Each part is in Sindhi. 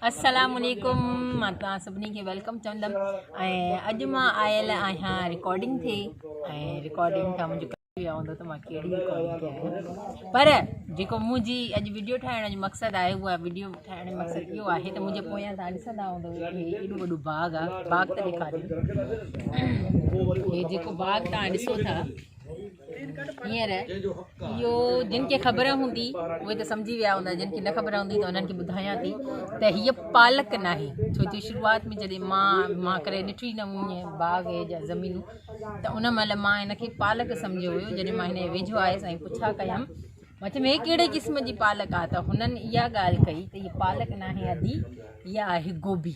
السلام عليڪم مان توهان سڀني کي ويلڪم چوندم ۽ اڄ مان آيل آهيان رڪارڊنگ تي ۽ رڪارڊنگ کان منهنجو ڪم ويو هوندو ته مان ڪهڙي رڪارڊنگ تي آهيان پر جيڪو منهنجي اڄ ويڊيو ٺاهڻ جو مقصد آهي اها ويڊيو ٺاهڻ جو مقصد اهو آهي ته منهنجي پويان تان ڏسندا هوندو هي ايڏو وڏو باغ آهي باغ ته ڏيکاريو هي جيڪو باغ تان ڏسو ٿا هينئر اهو جن کي خبر هوندي اهي ته سمجهي ويا هوندا جن کي نه خبر هوندي ته انهن کي ٻڌايان ٿي ته هيء پالڪ ناهي ڇو جو شروعات ۾ جڏهن مان مان ڪڏهن ڏٺو ئي نه هئي باغ هي جا زمينون ته ان مهل مان هن کي پالڪ سمجهيو هيو جڏهن مان هن جي ويجهو آيس ۽ پڇا ڪيم مان چيم هي ڪهڙي قسم جي پالڪ آهي ته هنن اها ڳالهه ڪئي ته هيء پالڪ ناهي ادي هيء آهي گوبي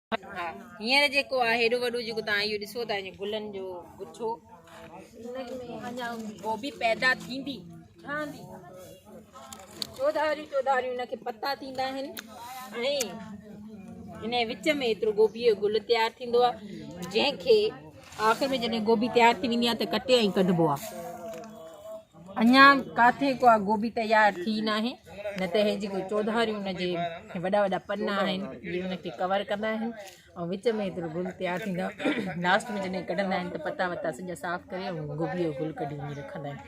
ها هينئر جيڪو آهي هيڏو وڏو جيڪو تان اهو ڏسو ته هن گلن جو گڇو ان ۾ اڃا گوبي پيدا ٿيندي ٺهندي چوڌاري چوڌاري ان کي پتا ٿيندا آهن ۽ هن وچ ۾ ايترو گوبي جو گل تيار ٿيندو آهي جنهن کي آخر ۾ جڏهن گوبي تيار ٿي ويندي آهي ته ڪٽي ۽ ڪڍبو آهي اڃا ڪاٿي ڪا گوبي تيار ٿي ناهي نه ته هي جيڪو چوڌاري ان جي وڏا وڏا پن آهن جي ان کي ڪور ڪندا آهن ۽ وچ ۾ هيترو گل تيار ٿيندو آهي لاسٽ ۾ جڏهن ڪڍندا آهن ته پتا وتا سڄا صاف ڪري ۽ گوبي جو گل ڪڍي وڃي رکندا آهن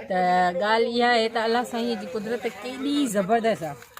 ته ڳالهه اها آهي ته الله سائين جي قدرت ڪيڏي زبردست آهي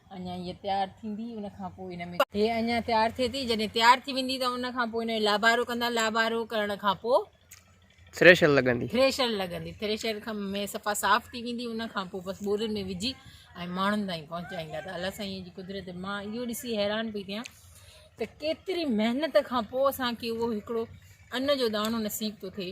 اڃا هيء تيار ٿيندي ان کان پوء هن ۾. هيء اڃا تيار ٿئي ٿي جڏهن تيار ٿي ويندي ته ان کان پوء ان جو لابارو ڪندا لابارو ڪرڻ کان پوء. ٿريشر لڳندي. ٿريشر لڳندي ٿريشر کان ۾ صفا صاف ٿي ويندي ان کان پوء بس ٻورين ۾ وجهي ۽ ماڻهن تائين پهچائيندا ته الله سائينء جي قدرت مان اهو ڏسي حيران پئي ٿيان ته ڪيتري محنت کان پوء اسان کي اهو هڪڙو ان جو داڻو نصيب ٿو ٿئي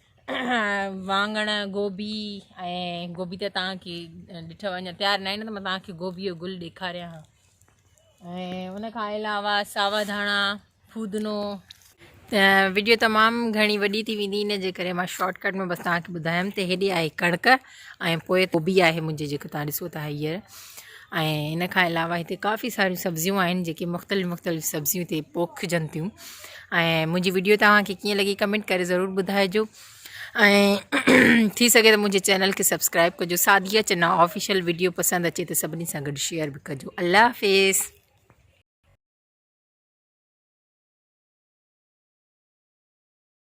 واڱڻ گوبي ۽ گوبي ته تان کي ڏٺو اڃا تيار ناهي نه ته مان تان کي گوبي جو گل ڏيکاريان ها ۽ ان کان علاوه ساوا ڌاڻا فودنو ويڊيو تمام گهڻي وڏي ٿي ويندي ان جي ڪري مان شارٽ ڪٽ ۾ بس تان کي ٻڌايم ته هيڏي آهي ڪڻڪ ۽ پوء گوبي آهي منهنجي جيڪي توهان ڏسو ٿا هيئر ۽ ان کان علاوه هتي ڪافي ساريون سبزيون آهن جيڪي مختلف مختلف سبزيون هتي پوکجن ٿيون ۽ منهنجي ويڊيو توهانکي ڪيئن لڳي ڪمينٽ ڪري ضرور ٻڌائجو ۽ ٿي سگهي ته منهنجي چينل کي سبسڪرائب ڪجو ساديا چنا آفيشل ويڊيو پسند اچي ته سڀني سان گڏ شيئر به ڪجو الله حافظ